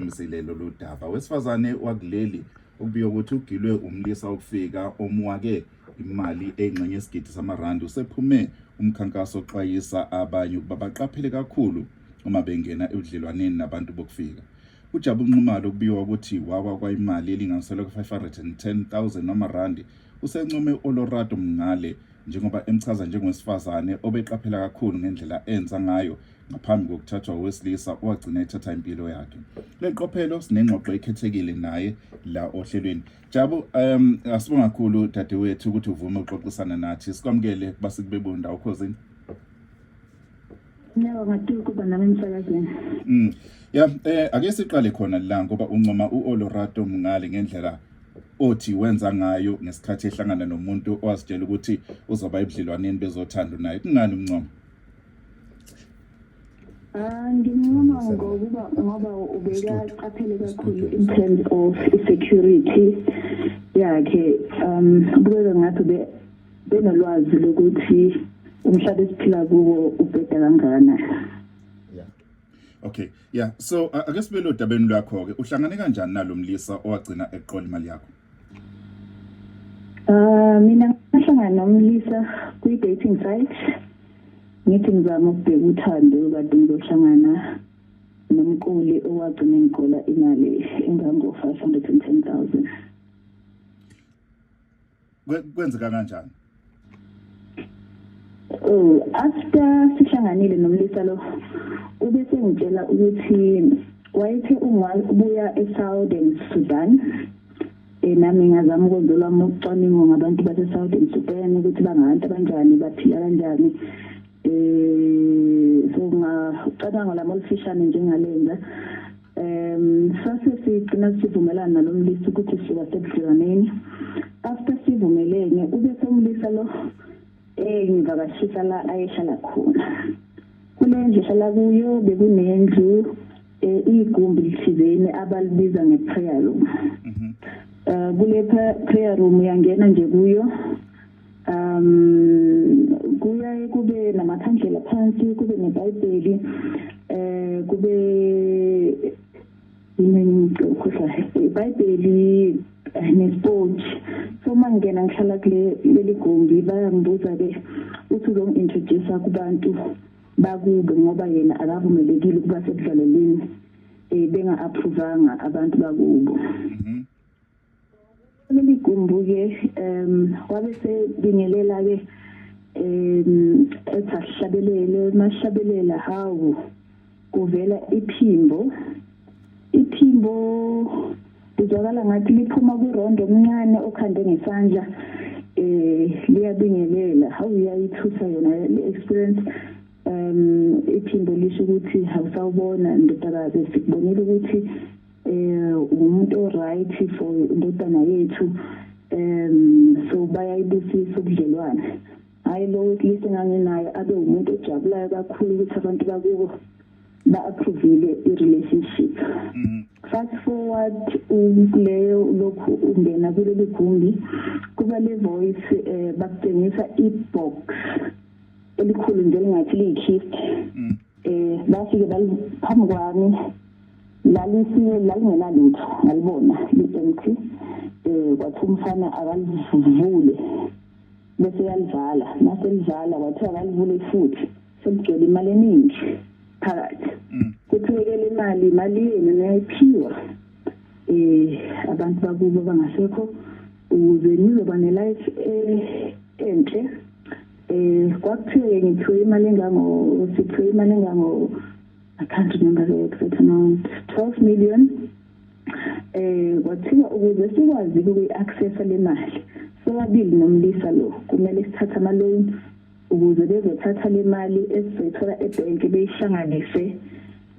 Mzile lolu daba wesifazane wakuleli okubika ukuthi ugilwe umlisa okufika omwake imali eyingxenye yesigidi samarandi usephume umkhankaso oxwayisa abanye ukuba baqaphele kakhulu uma bengena ebudlelwaneni nabantu bokufika ujabu nxumalo okubika ukuthi wawa kwayimali elinganiselwa ku-510000 wamarandi usencome olorado mngale njengoba emchaza njengowesifazane obeqaphela kakhulu ngendlela enza ngayo ngaphambi kokuthathwa owesilisa owagcina ethatha impilo yakhe kule qophelo sinengxoxo ekhethekile naye la ohlelweni jabo um asibonga kakhulu dadewethu ukuthi uvume uxoxisana nathi sikwamukele kuba sikubebona ndawo khozini Nyawo ngatiwe kuba nami emsakazweni. Mm. Ya eh ake siqale khona la ngoba uncoma uOlorato Mngale ngendlela othi wenza ngayo ngesikhathi ehlangana nomuntu owazitshela ukuthi uzoba ebudlelwaneni bezothando naye kungani umncoma Ah, ngincoma ngokuba ngoba ubekaqaphele kakhulu in terms of security yakhe um kubeka ngathi be benolwazi lokuthi umhlaba esiphila kuwo ubheda kangana Okay yeah so ake sibe lo dabeni lwakho ke uhlangane kanjani nalomlisa owagcina eqola imali yakho Uh, mina ngahlangana nomlisa kwi-dating site ngithi ngizama ukubheka uthando kade ngizohlangana nomquli owagcina ngigola imali engango-five hundred and ten thousand kwenzeka kanjani Oh, after sihlanganile nomlisa lo ube sengitshela ukuthi wayethe ungabuya eSouthern Sudan eh nami ngazama ukwenza lwami ucwaningo ngabantu baseSouthern Sudan ukuthi bangabantu abanjani baphila kanjani eh so ngacabanga lama olufishane njengalenza um sase sigcina sivumelana nalo mlisa ukuthi siba sebudlelwaneni after sivumelene ube somlisa lo engivakashisa la ayehlala khona kule ndlu ehlala kuyo bekunendlu um igumbi lithizeni abalibiza nge-prayer room um kule prayer room uyangena nje kuyo um kuyaye kube namakhandlela phansi kube nebhayibheli um kube imengikhohlayo ibhayibheli eh, nespoji so uma ngingena ngihlala kuleli gumbi bayangibuza-ke uthi uzongi-introduce-a kubantu bakubo ngoba yena akavumelekile ukuba sekudlaleleni um benga-aphuvanga abantu bakubo mm -hmm. Ligumbuke um wabe sebingelela ke um ethi asihlabelele masihlabelela hawu kuvela iphimbo iphimbo lizwakala ngathi liphuma kwirondo omncane okhande ngesandla eh liyabingelela how uyayithusa yona le experience um iphimbo lisho ukuthi awusawubona ndodakazi sikubonile ukuthi eh umuntu right for indodana yethu um so bayayibusisa ubudlelwane hayi lo wesilisa enganginayo abe umuntu ojabulayo kakhulu ukuthi abantu bakubo ba-approvile i-relationship mm. fast forward kuleyo lokhu ungena kuleli gumbi kuba le voice um bakutshengisa i-box elikhulu njengathi liyi-kist mm. um bafike phambi kwami lalisiwe lalingenalutho ngalibona li-empty um kwathi umfana akalivule bese yalivala naselivala kwathiwa akalivule futhi seligcwele imali eningi phakathi mm. kuthulekela imali imali yenu niyayiphiwa um abantu bakubo bangasekho ukuze nizoba ne-life eh, enhle Eh kwakuthiwe ngiphiwe imali engango siphiwe imali engango I can't remember the exact amount 12 million eh kwathiwa ukuze sikwazi ukuyi-accessa le mali sobabili nomlisa lo kumele sithathe ama-loan ukuze bezothatha le mali esizoyithola ebhenki beyihlanganise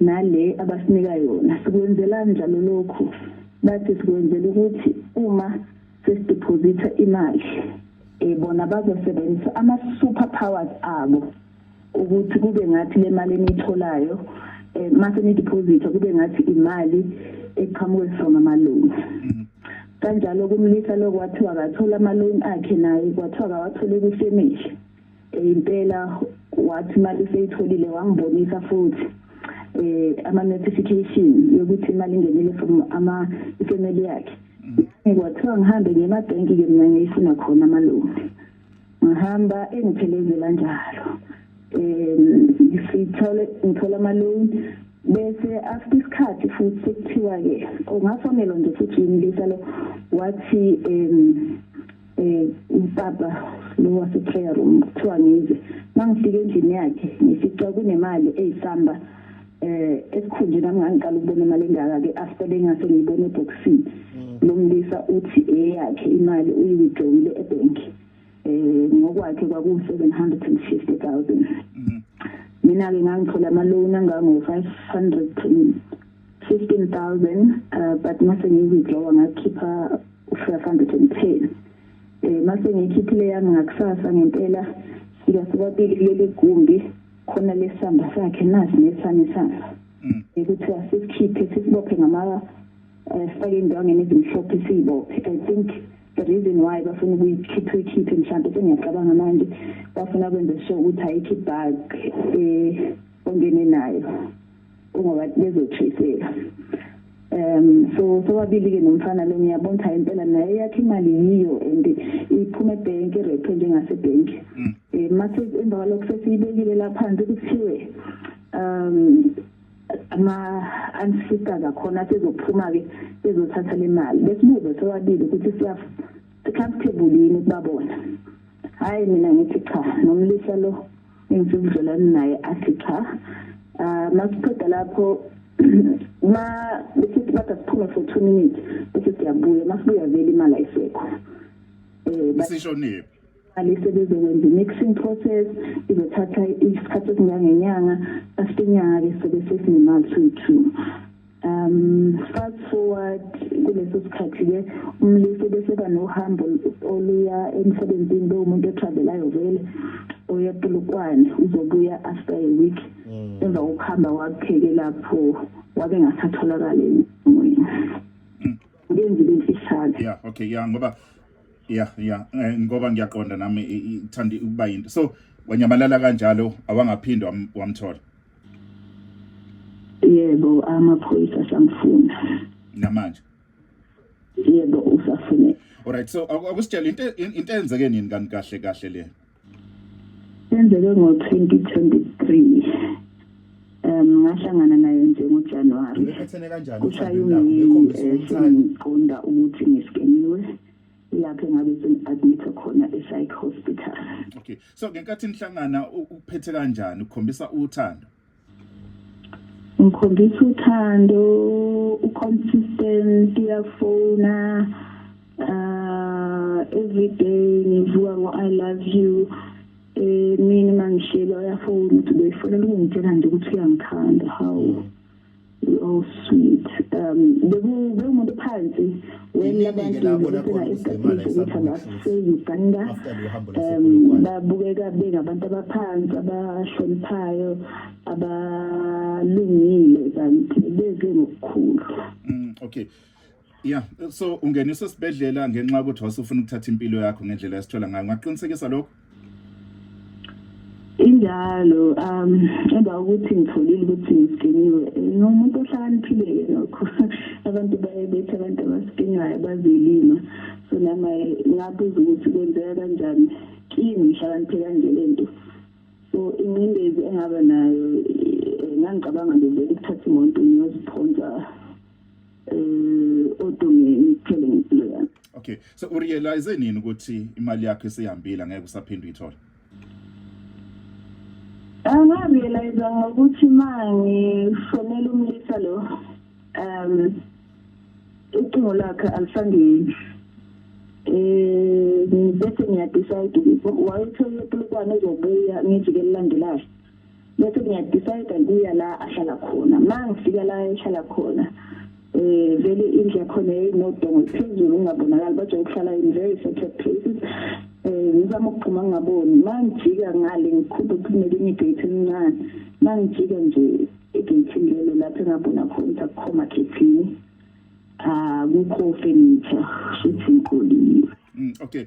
nale abasinika yona sikwenzelani njalo lokhu bathi sikwenzela ukuthi uma sesideposita imali eh bona bazosebenzisa ama super powers abo ukuthi kube ngathi le mali enitholayo eh mase ni deposit kube ngathi imali eqhamuke from ama loans mm. kanjalo kumlisa lokwathiwa akathola ama loan akhe naye kwathiwa akawathole kufemihle impela wathi imali seyitholile wangibonisa futhi eh ama notification yokuthi imali ingenile from ama family yakhe ngikwathiwa ngihambe ngiye emabhenki ke mina ngiyifuna khona amalungu ngihamba engiphelezela njalo um sithole ngithola amalungu bese after isikhathi futhi sekuthiwa-ke ungafonelwa nje futhi yimlisa lo wathi um um upapa lo wase-prayer room kuthiwa ngize mangifika endlini yakhe ngifica kunemali eyisamba eh esikhunje nami ngangiqala ukubona imali engaka ke after bengase ngibone eboxini mm. lo mlisa uthi eyakhe imali uyiwithdrawile ebank eh ngokwakhe kwaku 750000 mm. mina ke ngangithola ama loan angango 500 15000 uh, but mase ngiwithdrawa ngakhipha 510 eh mase ngikhiphile yami ngakusasa ngempela sika sobabili kuleli gumbi khona lesamba sakhe nasi nesami samba mm. ekuthiwa sisikhiphe sisibophe ngama eh, sifake indwangeni ezimhlophe siyibophe i think the reason why bafuna ukuyikhipha ikhiphe mhlawumbe sengiyacabanga manje bafuna kwenze sure ukuthi ayikhi bag eh ongene nayo kungoba bezothisela um so sobabili ke nomfana lo ngiyabona ukuthi impela naye yakhe imali yiyo and iphuma ebhenki irephe njengasebhenki um mm. eh, mathi emva kwalokho sesiyibekile la phansi kuthiwe um ama-ancestor zakhona sezophuma-ke bezothatha le mali besibuze sobabili ukuthi si-comfortable yini ukubabona hhayi mina ngithi cha nomlisa lo ngithi ubudlelwane naye athi cha ah, masiqeda lapho ma besithi bathi asiphume for two minutes bese siyabuya masibuya vele imali ayisekho um isishonile imali sebezokwenza i-mixing process izothatha isikhathi esingangenyanga after inyanga-ke sobe sesinemali soyi-two um fast forward kuleso sikhathi-ke umlisa ubeseba nohambo oluya emsebenzini bewumuntu otravelayo vele oya polokwane uzobuya after a week mm. emva kokuhamba wakupheke lapho wabe ngasatholakali emoyeni mm. ngenzile imfihlane ya okay ya ngoba ya ya eh, ngoba ngiyaqonda nami ithanda ukuba yinto so wanyamalala kanjalo awangaphindwa wamthola yebo amaphoyisa samfuna namanje yebo usafune alright so akusitshela into into enzeke nini kanti kahle kahle le enzeke ngo 2023 um ngahlangana naye nje ngojanuwari kushayumini um eh, ngiqonda ukuthi ngisikeniwe lapho ngabe sengi-admitha khona e-psych hospital okay so ngenkathi nihlangana ukuphethe kanjani ukukhombisa uthando ngikhombisa uthando uconsistent uyafona uh ah, every day ngivuka ngo i love you eh mina mangishelwa uyafona ukuthi boyfriend ungitshela nje ukuthi uyangikhanda how Oh sweet. Um beku bekumuntu phansi wena abantu labona khona isemana esabuka seyiganda. Um babukeka bengabantu abaphansi abahloniphayo abalungile kanti beze ngokukhulu. Mm okay. Yeah, so ungeniswa esibhedlela ngenxa ukuthi wasufuna ukuthatha impilo yakho ngendlela esithola ngayo. Ngaqinisekisa lokho. Injalo, um emva ukuthi ngitholile ukuthi ngiskiniwe. Ngomuntu ohlakaniphile lokho. Abantu baye bethi abantu abaskinayo bazilima. So nama ngabuza ukuthi kwenzeka kanjani. Kimi ngihlakaniphe kanje lento. So ingcindezi engaba nayo eh, ngangicabanga nje ukuthatha imoto ngiyoziphonsa uh, odongeni ithole ngempilo yami okay so urealize nini ukuthi imali yakho isihambile ngeke usaphinde uyithole angarealize ah, ngokuthi manje fonela umlisa lo um ucingo lakhe alisangeni eh bese ngiyadecide ukuthi wayethola iplukwana ezobuya ngijike lilandelayo bese ngiyadecide kuya la ahlala khona ma ngifika la ehlala khona eh vele indlu yakhona yayinodongo phezulu ungabonakali baje ukuhlala in very separate places eh ngizama ukuphuma ngaboni ma ngijika ngale ngikhuphe kunelinye igate elincane ma ngijika nje igate lelo lapho engabona khona sakukhoma khethini akukho ah, furniture futhi ngikhulile mm, okay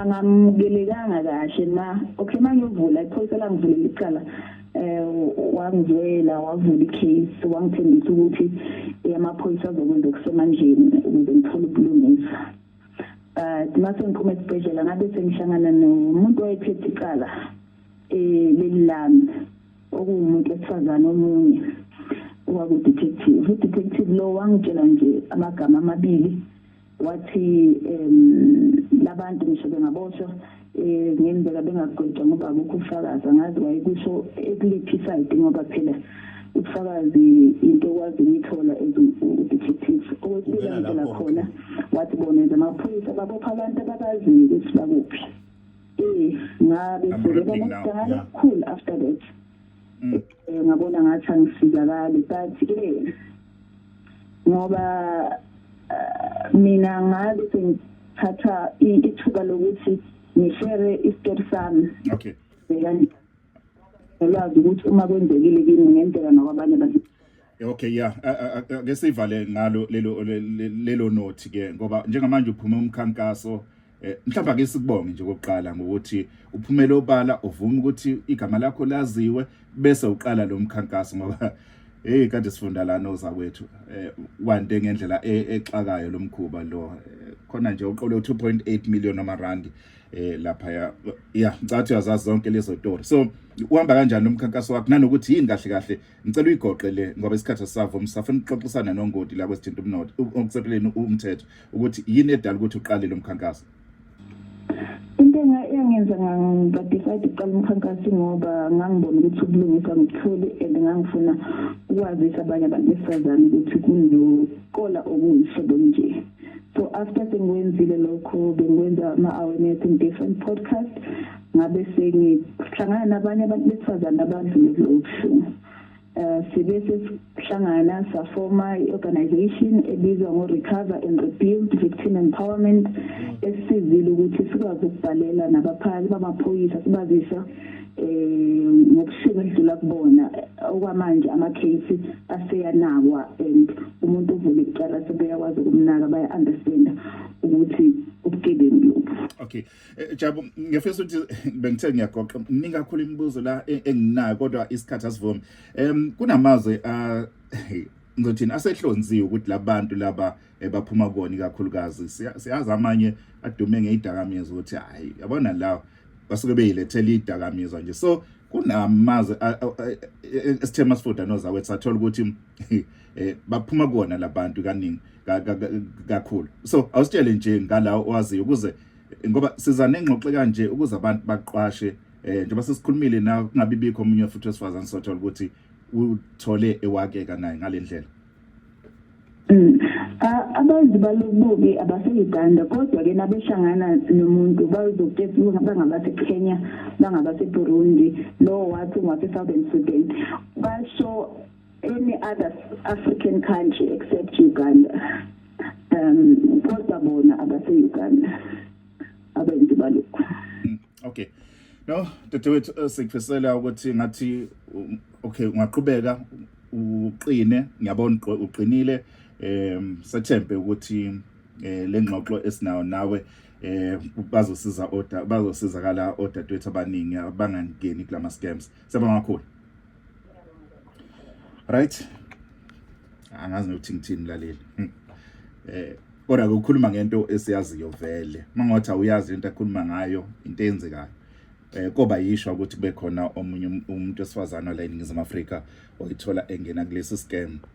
angamukelekanga kahle ma okay mangiyovula iphoyisa langivulela icala eh wangizwela wavula icase wangithembisa ukuthi amaphoyisa azokwenza okusemandleni ukuze ngithole ubulungisa but mase ngiphuma esibhedlela ngabe sengihlangana nomuntu owayephethe icala eh leli lami okuwumuntu wesifazane omunye owakudetective udetective lo wangitshela nje amagama amabili wathi um labantu ngisho bengaboshwa um ngenzeka bengagwetshwa ngoba akukho ufakazi angazi wayekusho ekuliphi isayidi ngoba phela ubufakazi into okwazi ukuyithola as u-detective okwesibili angitshela khona wathi bona as amaphoyisa babopha abantu ababaziyo ukuthi bakuphi um ngabe sebeba nokudala kukhulu after that mm. eh, ngabona ngathi angifikakali but ke ngoba eh, mina ngabe sengithatha ithuba lokuthi ngishere isitori sami okay nolwazi ukuthi uma kwenzekile kimi ngenzeka nokwabanye abantu Okay yeah ake sivale ngalo lelo lelo nothi ke ngoba njengamanje uphume umkhankaso Eh, mhlawumbe ake sikubonge nje kokuqala ngokuthi uphumele obala uvume ukuthi igama lakho laziwe bese uqala lo mkhankaso ngoba hey kade sifunda lana ozakwethu eh, wande ngendlela e-, exakayo lo mkhuba lo eh, khona nje uqole 2.8 million amarandi eh lapha ya ya ngicathu yazazi zonke lezo story so uhamba kanjani umkhankaso wakho nanokuthi yini kahle kahle ngicela uyigoqe le ngoba isikhathi sisavuma safuna ukuxoxisana nongoti la kwesithinta umnotho okusepheleni umthetho ukuthi yini edala ukuthi uqale lo mkhankaso into engenza ngadecide ukuqala umkhankaso ngoba ngangibona ukuthi ubulungisa ngithule and ngangifuna ukwazisa abanye abantu besifazane ukuthi kunokola okuyihlobo nje so after sengiwenzile lokho bengikwenza ama-awareness in different podcast ngabe sengihlangana nabanye abantu besifazane abandlule kulo buhlungu Eh, sibe sesihlangana safoma i-organization ebizwa ngo-recover and rebuild victim empowerment esisizile ukuthi sikwazi ukubhalela nabaphathi bamaphoyisa sibazisa um ngobusuku edlula kubona okwamanje ama-case aseyanakwa and umuntu uvule icala sebeyakwazi ukumnaka baya-understanda ukuthi ubugebengu lobu okay Eh, Jabu ngiyafisa ukuthi bengithe ngiyagoqa mningi kakhulu imibuzo la e, enginayo kodwa isikhathi asivumi. Em kunamazwe a ngizothini asehlonziwe ukuthi labantu laba eh, baphuma koni kakhulukazi siyazi amanye adume ngeyidakamizwa ukuthi hayi yabona la basuke beyilethela idakamizwa nje so kunamazwe esithema sifuda nozakwethu sathola ukuthi eh baphuma kuona labantu kaningi kakhulu so awusitshele nje ngalawo owaziyo ukuze ngoba siza nengxoxo kanje ukuze abantu baqwashe eh njengoba sesikhulumile na kungabi bikho omunye futhi wesifazane sothola ukuthi uthole ewakeka naye ngalendlela Mm. Abantu balobubi abaseyiganda kodwa ke nabehlangana nomuntu bazokuthetha ukuthi bangabase Kenya, bangabase Burundi, lo wathi ngwase Southern Sudan. Basho any other African country except Uganda um kodwa bona abase Uganda abenzi balokho hmm, okay no dadewethu eh, sikufisela ukuthi ngathi um, okay ungaqhubeka uqine ngiyabona uqinile um sethembe ukuthi eh lengxoxo esinayo nawe eh bazosiza oda bazosizakala odadewethu abaningi abangangeni kulama scams siyabonga kakhulu right angazi nokuthi ngithini mlaleli hmm. eh kodwa ukukhuluma ngento esiyaziyo vele mangothi awuyazi into akhuluma ngayo into eyenzekayo eh koba yishwa ukuthi kube khona omunye um-, umuntu esifazana la eNingizimu Afrika oyithola engena kulesi scam